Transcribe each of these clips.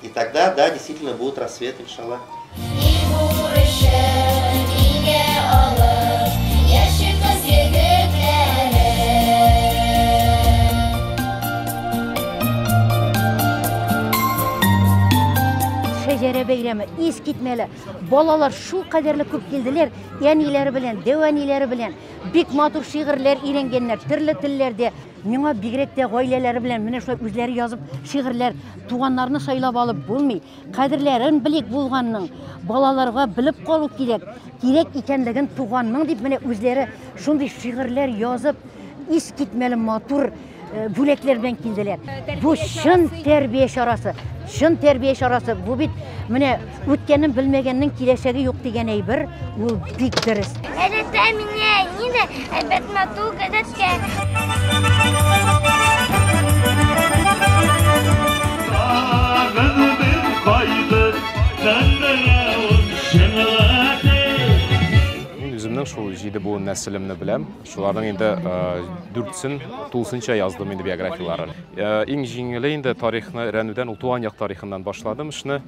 И тогда, да, действительно будет рассвет, иншалла. Шәҗәрә бәйрәме ис китмәле. Балалар шул кадәрле күп килделәр, әниләре белән, дәү әниләре белән. Бик матур шигырьләр өйрәнгәннәр, төрле телләрдә. Миңа бигрәк тә гаиләләре белән менә шулай үзләре язып шигырьләр, туганнарны сайлап алып булмый. Кадерләрен белик булганның, балаларга белеп калу кирәк. Кирәк икәнлеген туганның дип менә үзләре шундый шигырьләр язып, ис китмәле матур э, бүләкләр белән килделәр. Бу чын тәрбия чарасы. Чын тәрбия чарасы. Бу бит менә Үткәнен белмәгәннең киләчәге юк дигән әйбер, ул бик дөрес. Әдәттә мине нидә әйбәт мату гадәткә. шул җиде буын нәселемне беләм. Шуларның инде дүртсен тулысынча яздым инде биографияләрен. Иң җиңеле инде тарихны өйрәнүдән ул туган як тарихыннан башладым эшне.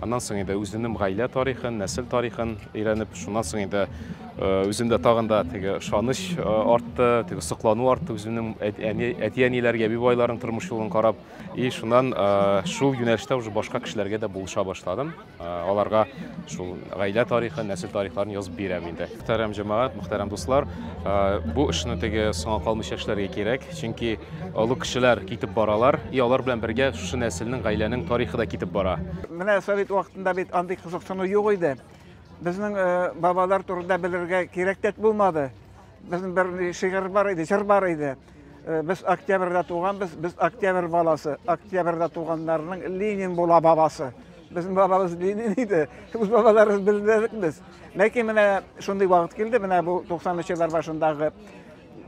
Аннан соң инде үзенем гаилә тарихын, нәсел тарихын өйрәнеп, шуннан соң инде үземдә тагын да теге ышаныч артты, теге соклану артты үземнең әти-әниләргә, әби байларның тормыш юлын карап. И шуннан шул юнәлештә уже башка кешеләргә дә булыша башладым. Аларга шул гаилә тарихын, нәсел тарихларын язып бирәм инде. Мөхтәрәм җәмәгать, мөхтәрәм дуслар, бу эшне теге соңа калмыйча эшләргә кирәк, чөнки олы кешеләр китеп баралар, и алар белән бергә шушы нәселнең, гаиләнең тарихы да китеп бара. Менә совет вакытында бит андый кызыксыну юк иде. Безнең бабалар турында белергә кирәк тә булмады. Безнең бер шигырь бар иде, җыр бар иде. Э, без октябрьдә туганбыз, без октябрь баласы. Октябрьдә туганнарның Ленин була бабасы. Безнең бабабыз Ленин иде. Үз бабаларыбыз белдек без. Ләкин менә шундый вакыт килде, менә бу 90-нчы еллар башындагы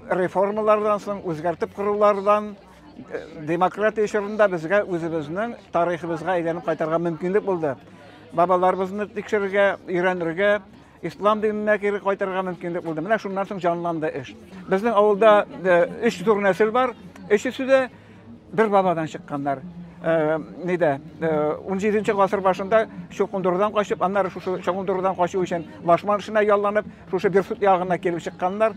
реформалардан соң, үзгәртеп корулардан э, демократия чорында безгә үзебезнең тарихыбызга әйләнеп кайтарга мөмкинлек булды. Бабаларыбызны тикшерергә, өйрәнергә, Ислам диненә кире кайтырга мөмкинлек булды. Менә шуннан соң җанланды эш. Безнең авылда өч зур нәсел бар. Өчесе дә бер бабадан чыкканнар. Э, нидә э, он жетинчи гасыр башында чокундурдан качып аннары шушы чокундурдан качу өчен лашман эшенә ялланып шушы берсут ягына килеп чыкканнар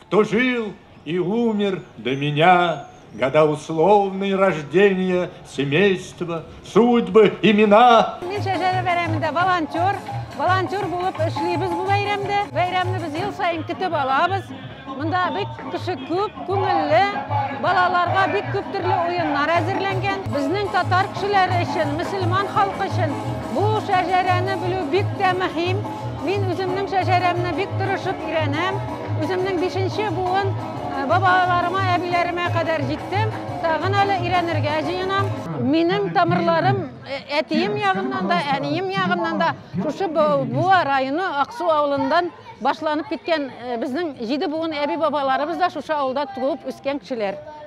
Кто жил и умер до меня, Года условные рождения, семейства, судьбы, имена. Мин шәжәрә бәйрәмендә волонтер, волонтер булып эшлибез бу бәйрәмдә. Бәйрәмне без ел саен көтеп алабыз. Монда бик кеше күп, күңелле, балаларга бик күп төрле уеннар әзерләнгән. Безнең татар кешеләре өчен, мөселман халкы өчен бу шәжәрәне белү бик тә мөһим. Мин үземнең шәжәрәмне бик тырышып өйрәнәм. Үземнең бишенче буын бабаларыма, әбиләремә кадәр җиттем. Тагын әле өйрәнергә җыенам. Минем тамырларым әтием ягыннан да, әнием ягыннан да шушы Буа районы Аксу авылыннан башланып киткән безнең җиде буын әби-бабаларыбыз да шушы авылда туып үскән кешеләр.